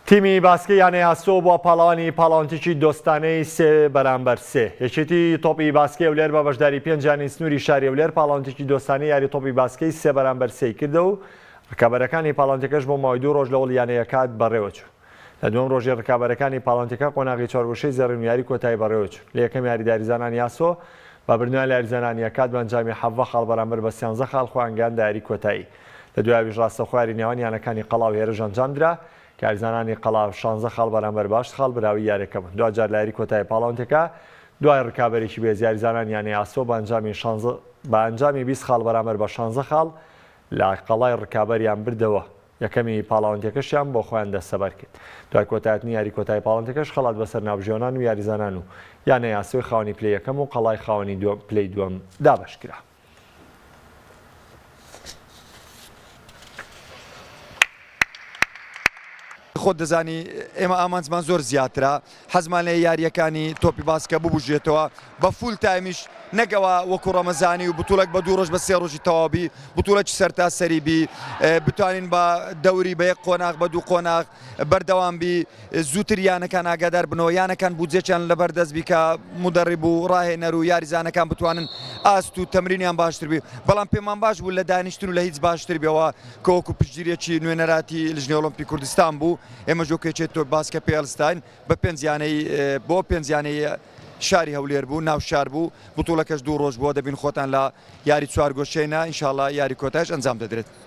تیمی باسکەی یانەی ئاسۆ بووە پاڵەوانی پاڵەوانتیکی دۆستانەی سێ بەرامبەر سێ. یەکێتی تۆپی باسکەی هەولێر بە بەشداری پێنج یانەی سنووری شاری هەولێر پاڵەوانتیکی دۆستانەی یاری تۆپی باسکەی سێ بەرامبەر سێی کردە و رکابەرەکانی پاڵەوانتیکەش بۆ ماوەی دوو رۆژ لەوەڵ یانەیەکات بەڕێوەچوو. لە دووەم رۆژی رکابەرەکانی پاڵەوانتیکە قۆناغی چوار گۆشەی زێڕین و یاری کۆتایی بەڕێوەچوون. لە یەکەم یاریدا یاریزانانی ئاسۆ بە بردنەوەیان لە یاریزانانی یەکات بە ئەنجامی حەڤدە خاڵ بەرامبەر بە سیانزە خاڵ خۆیان گەیاندە یاری کۆتایی. لە دوایەویش راستەوخۆیاری نێوان یانەکانی قەڵا و هێرش ئەنجامدرا، کە یاریزانانی قەڵا شانزە خاڵ بەرامبەر بە هەشت خاڵ براوەی یارییەکە بوون، دواجار لە یاری کۆتایی پاڵەوەندێکە دوای رکابەریی بەهێز یاریزانانی یانەی ئاسۆ بە ئەنجامی شانزە بە ئەنجامی بیست خاڵ بەرامبەر بە شانزە خاڵ لە قەڵای رکابەریان بردەوە، یەکەمی پاڵەوەندێکەشیان بۆ خۆیان دەستەبەرکرد، دوای کۆتایهتنی یاری کۆتایی پاڵەندێکەش خەڵات بەسەر ناوبژیوانان و یاریزانان و یانەی ئاسۆی خاوەنی پلەی یەکەم و قەڵای خاوەنی دووەم پلەی دووەم دابەشکرا. خۆت دەزانی ئێمە ئامانجمان زۆر زیاترە حەزمان لە یاریەکانی تۆپی باسکە ببژێتەوە بە فول تایمیش نەگەوە وەکو ڕەمەزانی و بتولەک بە دوو ڕۆژ بە سێ ڕۆژی تەواوبی بتولەکی سەرتا سەریبی بتوانین بە دەوری بە یەک قۆناغ بە دوو قۆناغ بەردەوام بی زووتر یانەکان ئاگادار بنەوە یانەکان بودجەچیان لەبەر دەست بیکە مدەڕیب و ڕاهێنەر و یاریزانەکان بتوانن ئاست و تەمرینیان باشتر بی بەڵام پێمان باش بوو لە دانیشتن و لە هیچ باشتر بێەوە کۆکو پشتگیریەکی نوێنەراتی لژنی ئۆلمپی کوردستان بوو ئێمە جۆکێچێت تۆ باسکە پێلستاین بە پێنجیانەی بۆ پێنجیانەی شاری هەولێر بوو ناو شار بوو بتوڵەکەش دوو ڕۆژ بووە دەبین خۆتان لە یاری چوار گۆشێنە ئینشاالله یاری کۆتاش ئەنجام دەدرێت.